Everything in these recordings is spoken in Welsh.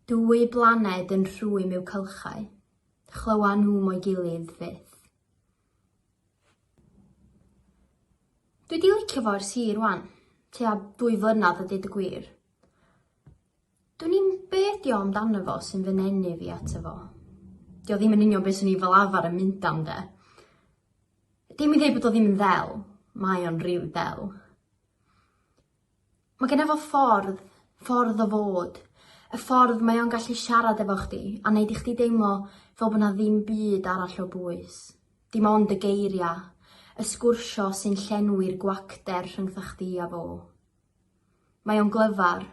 Dwy blaned yn rhwym yw cylchau, chlywa nhw mo'i gilydd fyth. Dwi 'di licio fo ers hir ŵan, tua dwy flynadd a deud y gwir. Dwn i'm be' ydi o amdano fo sy'n fy nenu fi ato fo. 'Di o ddim yn union be' swn i fel arfar yn mynd am 'de. Dim i ddeud bod o ddim yn ddel, mae o'n rili del. Mae genna fo ffordd, ffordd o fod. Y ffordd mae o'n gallu siarad efo chdi a neud i chdi deimlo fel bod 'na ddim byd arall o bwys. Dim ond y geiria', y sgwrsio sy'n llenwi'r gwacter rhyngtha chdi a fo. Mae o'n glyfar.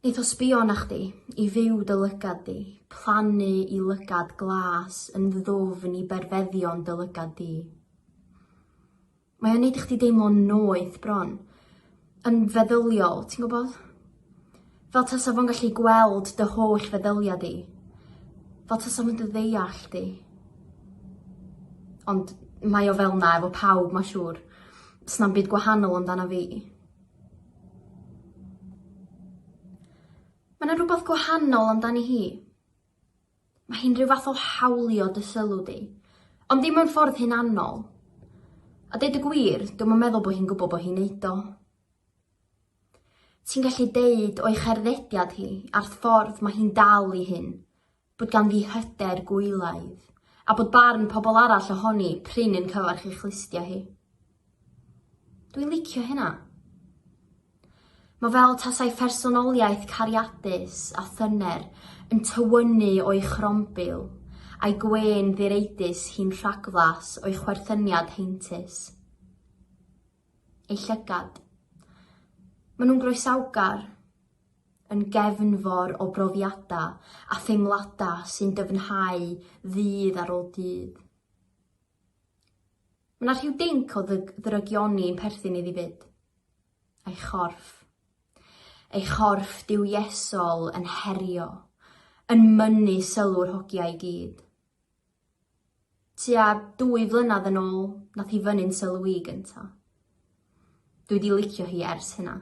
Neith o sbio arna chdi, i fyw dy lygad di, plannu i lygad glas yn ddwfn i berfeddion dy lygad di. Mae o'n neud i chdi deimlo'n noeth bron. Yn feddyliol, ti'n gwbod? Fel tasa fo'n gallu gweld dy holl feddylia di. Fel tasa fo'n dy ddeall di. Ond mae o fel 'na efo pawb ma' siŵr. Sna'm byd gwahanol amdana fi. Ma' 'na rwbath gwahanol amdani hi. Mae hi'n rhyw fath o hawlio dy sylw di, ond dim mewn ffordd hunanol. A deud y gwir, dwi'm yn meddwl bod hi'n gwybod bod hi'n neud o. Ti'n gallu deud o'i cherddediad hi a'r ffordd mae hi'n dal i hyn, bod ganddi hyder gwylaidd, a bod barn pobl arall ohoni prin yn cyfarch ei chlustia hi. Dwi'n licio hynna. Mae fel tasau phersonoliaeth cariadus a thyner yn tywynnu o'i chrombil a'i gwên ddireidus hi'n rhagflas o'i chwerthyniad heintus. Ei llygad. Mae nhw'n groesawgar, yn gefnfor o brofiadau a theimladau sy'n dyfnhau ddydd ar ôl dydd. Mae 'na rhyw dinc o ddyg- ddrygioni yn perthyn iddi 'fyd. Ei chorff. Ei chorff duwiesol yn herio, yn mynnu sylw'r hogia i gyd. Tua dwy flynadd yn ôl, nath hi fynnu'n sylw i gynta'. Dwi 'di licio hi ers hynna.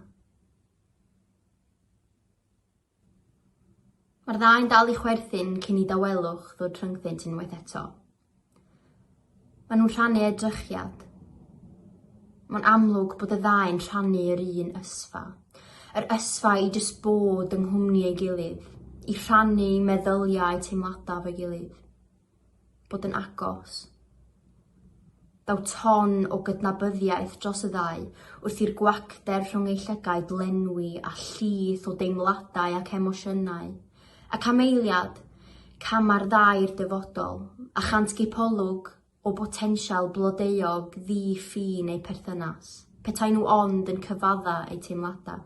Mae'r ddau'n dal i chwerthin cyn i dawelwch ddod rhyngddynt unwaith eto. Maen nhw'n rhannu edrychiad. Mae'n amlwg bod y ddau'n rhannu yr un ysfa. Yr ysfa i jyst bod yng nghwmni ei gilydd, i rhannu meddyliau teimladau fo'i gilydd. bod yn agos. Daw ton o gydnabyddiaeth dros y ddau wrth i'r gwacter rhwng eu llygaid lenwi a llith o deimladau ac emosiynau. A cameiliad, cama'r ddau i'r dyfodol, a chant gipolwg o botensial blodeuog ddi-ffin eu perthynas, petai nhw ond yn cyfadda eu teimladau.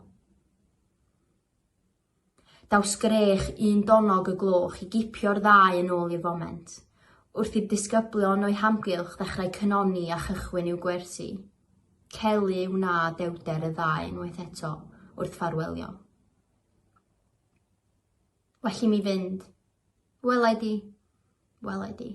Daw sgrech un donnog y gloch i gipio'r ddau yn ôl i'r foment, wrth i'r disgyblion o'u hamgylch ddechrau cynoni a chychwyn i'w gwersi. Celu wna dewrder y ddau unwaith eto wrth ffarwelio. Well i mi fynd. Welai di. Welai di.